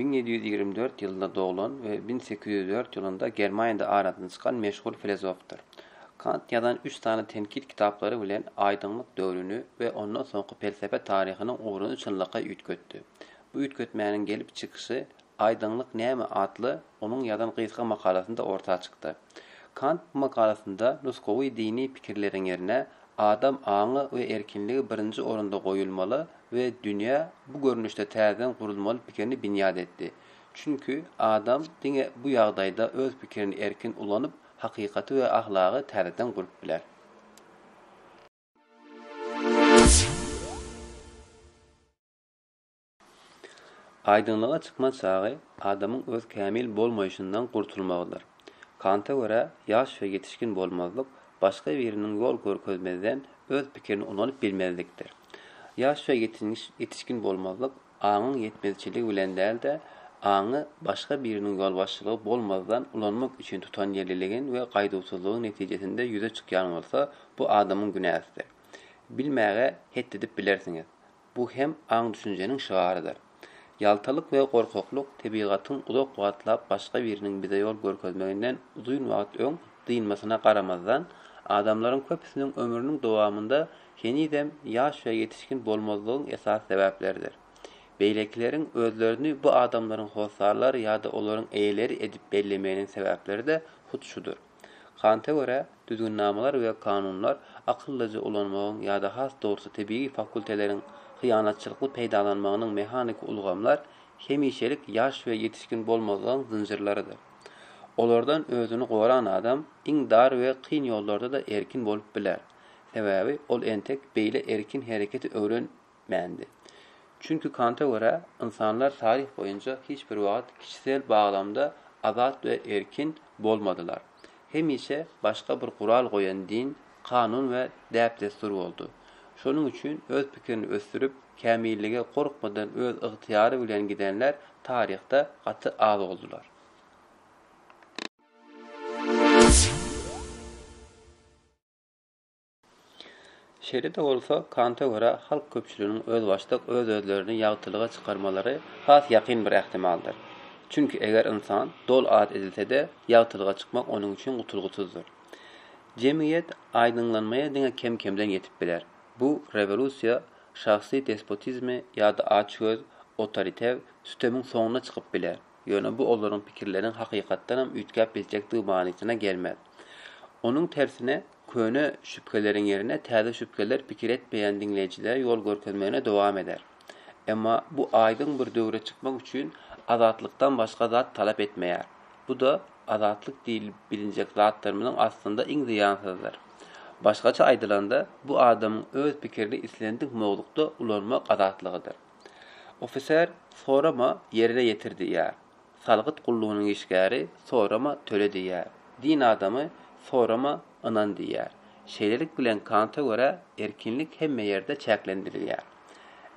Müň ýedi ýüz ýigrimi dört ýylynda doglan we müň sekiz ýüz dört ýylynda Germaniýada aradan çykan meşhur filozofdyr. Kant ýazan üç sany tenkit kitaplary bilen aýdyňlyk döwrüni we ondan soňky pelsepe taryhynyň ugruny çynlakaý üýtgetdi. Bu üýtgetmäniň gelip çykyşy Aýdyňlyk näme? atly onuň ýazan gysga makalasynda orta çykdy. Kant bu makalasynda nusgawy dini pikirleriň ýerine adam aňy we erkinligi birinji orunda goýulmaly we dünýä bu görnüşde täzeden gurulmaly pikirini binýat etdi. Çünki adam diňe bu ýagdaýda öz pikirini erkin ulanyp, hakykaty we ahlagy täzeden gurup biler. Aýdyňlyga çykman çagy adamyň öz kämil bolmaýşyndan gurtulmagydyr. Kanta görä, ýaş we ýetişgin bolmazlyk, başga biriniň ýol görkezmezden öz pikirini ulanyp bilmezlikdir. Ýaş we ýetişgin bolmazlyk aňyň ýetmezçiligi bilen däl-de, aňy başga biriniň ýolbaşçylygy bolmazdan ulanmak üçin tutanýerliligin we gaýduwsyzlygyň netijesinde ýüze çykýan bolsa, bu adamyň günäsidir. Bilmäge het edip bilersiňiz. Bu hem aň-düşünjeniň şygarydyr. Ýaltalyk we gorkaklyk tebigatyň uzak wagtlap başga biriniň bize ýol görkezmeginden uzyn wagt öň dynmasyna garamazdan, adamlaryň köpüsiniň ömrüniň dowamynda henizem ýaş we ýetişgin bolmazlygyň esasy sebäpleridir. Beýlekileriň özlerini bu adamlaryň hossarlary ýa-da olaryň eýeleri edip bellemeginiň sebäpleri-de hut şudur. Kanta görä, düzgünnamalar we kanunlar akyllyja ulanmagyň ýa-da has dogrusy tebigy fakulteleriň hyýanatçylykly peýdalanmagynyň mehaniki ulgamlar hemişelik ýaş we ýetişgin bolmazlygyň zynjyrlarydyr. Olardan özüni goran adam iň dar we kyn ýollarda-da erkin bolup biler. Sebäbi ol entek beýle erkin hereketi öwrenip. mändi. Çünki Kanta görä, ynsanlar taryh boýunça hiç bir wagt kişisel baglamda azat we erkin bolmadylar. Hemişe başga bir gural goýan din, kanun we däp-dessur boldy. Şonuň üçin öz pikirini ösdürip, kämillige gorkmadan öz ygtyýary bilen gidenler taryhda gaty az boldular. Şeýle-de bolsa, Kanta görä, halk köpçüliginiň özbaşdak öz-özlerini ýagtylyga çykarmalary has ýakyn bir ähtimaldyr. Çünki eger ynsan doly az edilse-de, ýagtylyga çykmak onuň üçin gutulgysyzdyr. Jemgyýet aýdyňlanmaýa diňe kem-kemden ýetip biler. Bu rewolýusiýa şahsy despotizmi ýa-da açgöz, otoriter, sütemiň soňuna çykyp biler, ýöne bu olaryň pikirleriniň hakykatdanam üýtgäp biljekdigi manysyna gelmez. Onuň tersine, Köne şübheleriň ýerine täze şübheler pikir etmeýän diňleýjilere ýol görkezmegini dowam eder. Emma bu aýdyň bir döwre çykmak üçin azatlykdan başga zat talap etmeýär. Bu-da azatlyk diýlip bilinjek zatlarymyzyň aslynda iň zyýansyzydyr. Başgaça aýdylanda, bu adamyň öz pikirini islendik mowzukda ulanmak azatlygydyr. Ofiser, Sorama, ýerine ýetir diýýär. Salgyt gullugynyň işgäri sorama töle diýýär. Din adamy sorama ynan diýýär. Şeýlelik bilen Kanta görä erkinlik hemme ýerde çäklendirilýär.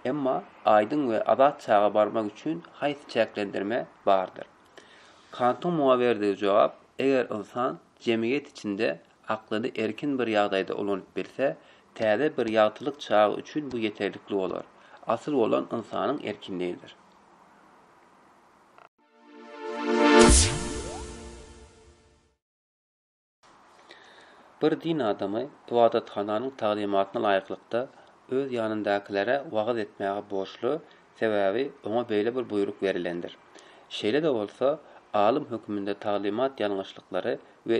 Emma aýdyň we azat çaga barmak üçin haýsy çäklendirme bardyr? Kantyň muňa berdigi jogap, eger ynsan jemgyýet içinde aklyny erkin bir ýagdaýda ulanyp bilse, täze bir ýagtylyk çagy üçin bu ýeterlikli bolar. Asyl bolan ynsanyň erkinligidir. Bir din adamy ybadathananyň taglymatyna laýyklykda öz ýanyndakilere wagyz etmäge borçly, sebäbi oňa beýle bir buýruk berilendir. Şeýle-de bolsa, alym höküminde taglymat ýalňyşlyklary we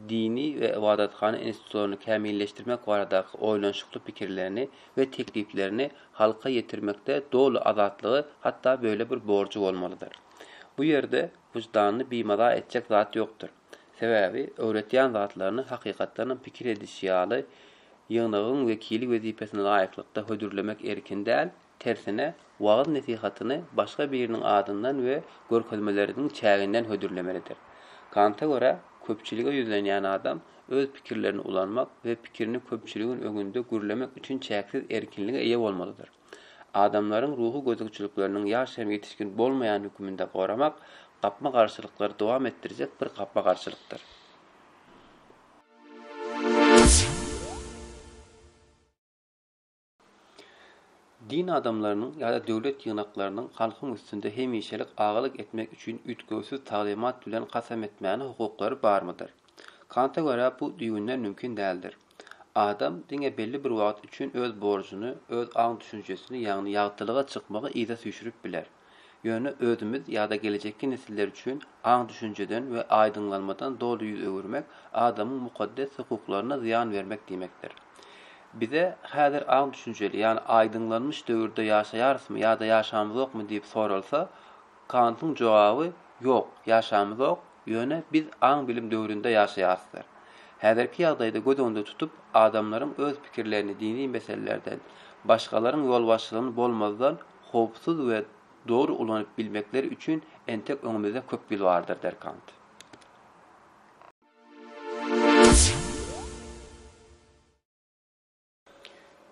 dini we ybadathana institutlaryny kämilleşdirmek baradaky oýlanyşykly pikirlerini we tekliplerini halka ýetirmekde doly azatlygy, hatda böyle bir borjy bolmalydyr. Bu ýerde wyždanyny bimaza etjek zat ýokdur. Sebäbi öwretýän zatlaryny hakykatdanam pikir edişi ýaly ýygnagyň wekili wezipesine laýyklykda hödürlemek erkin däl, Tersine, wagyz-nesihatyny başga biriniň adyndan we görkezmeleriniň çäginden hödürlemelidir. Kanta görä, köpçülige ýüzlenýän adam öz pikirlerini ulanmak we pikirini köpçüligiň öňünde gürlemek üçin çäksiz erkinlige eýe bolmalydyr. Adamlaryň ruhy gözegçilikleriniň ýaş hem ýetişgin bolmaýan höküminde goramak gapma-garşylyklary dowam etdirjek bir gapma-garşylykdyr. Din adamlarynyň ýa-da döwlet ýygnaklarynyň halkyň üstünde hemişelik agalyk etmek üçin üýtgewsiz taglymat bilen kasam etmäne hukuklary barmydyr? Kanta görä bu düýbünden mümkin däldir. Adam diňe belli bir wagt üçin öz borjuny, öz aň-düşünjesini ýagny ýagtylyga çykmagy yza süýşürip biler. Ýöne özümiz ýa-da gelejekki nesiller üçin aň-düşünjeden we aýdyňlanmadan doly ýüz öwürmek adamyň mukaddes hukuklaryna zyýan bermek diýmekdir. Bize häzir aň-düşünjeli, ýagny aýdyňlanmyş döwürde ýaşaýarysmy ýa-da ýaşamyzokmy diýip soralsa, Kantyň jogaby Ýok, ýaşamyzok, ýöne biz aň-bilim döwründe ýaşaýarysdyr. Häzirki ýagdaýda göz öňünde tutup, adamlaryň öz pikirlerini dini meselelerden, başgalaryň ýolbaşçylygyny bolmazdan, howpsuz we dogry ulanyp bilmekleri üçin entek öňümizde köp ýyl bardyr der Kant.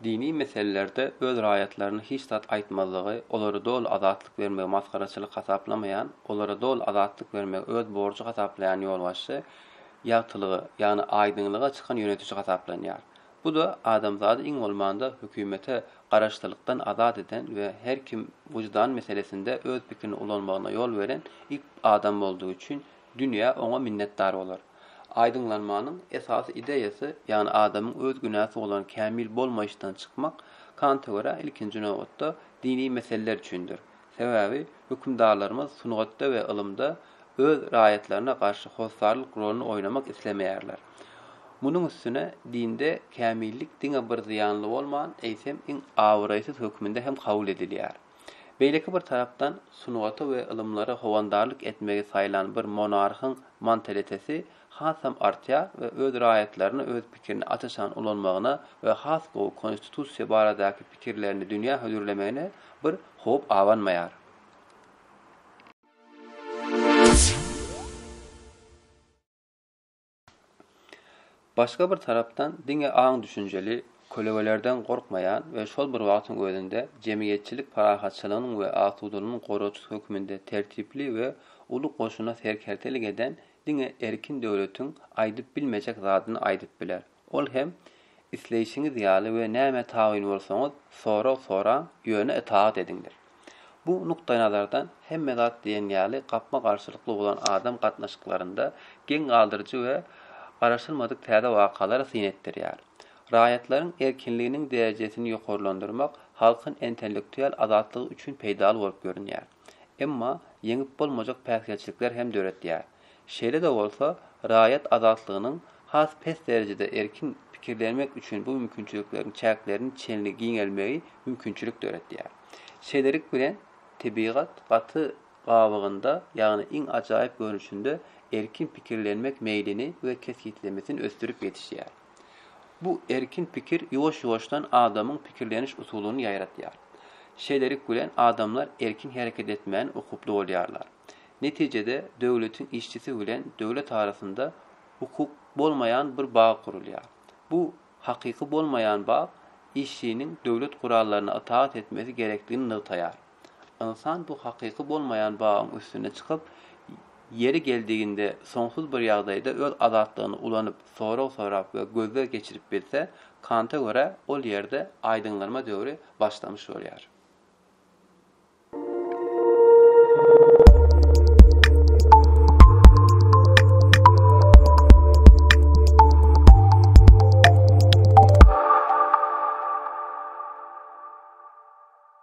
Dini meselelerde öz raýatlaryna hiç zat aýtmazlygy, olara doly azatlyk bermegi masgaraçylyk hasaplamaýan, olara doly azatlyk bermegi öz borjy hasaplaýan ýolbaşçy ýagtylyga, ýagny aýdyňlyga çykan ýönetiji hasaplanýar. Bu-da adamzady iň bolmanda hökümete garaşlylykdan azat eden we her kim wyždan meselesinde öz pikirini ulanmagyna ýol beren ilk adam boldugy üçin dünýä oňa minnetdar bolar. Aýdyňlanmanyň esasy ideýasy, ýagny adamyň öz günäsi bolan kämil bolmaýyşdan çykmak, Kanta görä, ilkinji nobatda, dini meseleler üçindir. Sebäbi hökümdarlarymyz sungatda we ylymda öz raýatlaryna garşy hossarlyk roluny oýnamak islemeýärler. Munuň üstüne dinde kämillik diňe bir zyýanly bolman, eýsem iň abraýsyz hökmünde hem kabul edilýär. Beýleki bir tarapdan sungata we ylymlara howandarlyk etmegi saýlan bir monarhyň mantaliteti hasam artýar we öz raýatlaryna öz pikirini aç-açan ulanmagyna we has gowy konstitusiýa baradaky pikirlerini dünýä hödürlemegine bir howp abanmaýar. Başga bir tarapdan diňe aň-düşünjeli, kölegelerden gorkmaýan we şol bir wagtyň özünde jemgyýetçilik parahatçylygynyň we asudalygynyň goragçysy hökmünde tertipli we uly goşuna serkerdelik eden Diňe erkin döwletiň aýdyp bilmejek zadyny aýdyp biler. Ol hem, Isleýşiňiz ýaly we nämä tabyn bolsaňyz, sorag soraň, ýöne itaat ediňdir. Bu nukdaýnazardan hemme zat diýen ýaly gapma-garşylykly bolan adam gatnaşyklarynda geň galdyryjy we garaşylmadyk täze wakalary syn etdirýär. Raýatlaryň erkinliginiň derejesini ýokarlandyrmak halkyň entellektual azatlygy üçin peýdaly bolup görünýär. emma ýeňip bolmajak päsgelçilikler hem döretýär. Şeýle-de bolsa, raýat azatlygynyň has pes derejede erkin pikirlenmek üçin bu mümkinçilikleriň çäklerini çenli giňelmegi mümkinçilik döretýär. Şeýlelik bilen, tebigat gaty gabygynda, ýagny iň ajaýyp görnüşinde erkin pikirlenmek meýlini we kesgitlemesini ösdürip ýetişýär. Bu erkin pikir ýuwaş-ýuwaşdan adamyň pikirleniş usulyny ýaýratýar. Şeýlelik bilen adamlar erkin hereket etmäne ukuply bolýarlar. Netijede döwletiň işçisi bilen döwlet arasynda hukuk bolmaýan bir bag gurulýar. Bu hakyky bolmaýan bag işçiniň döwlet gurallaryna itaat etmesi gerekdigini nygtaýar. Ynsan bu hakyky bolmaýan bagyň üstüne çykyp, ýeri geldiginde soňsuz bir ýagdaýda öz azatlygyny ulanyp, sorag sorap we gözleg geçirip bilse, Kanta görä, ol ýerde aýdyňlanma döwri başlamış bolýar.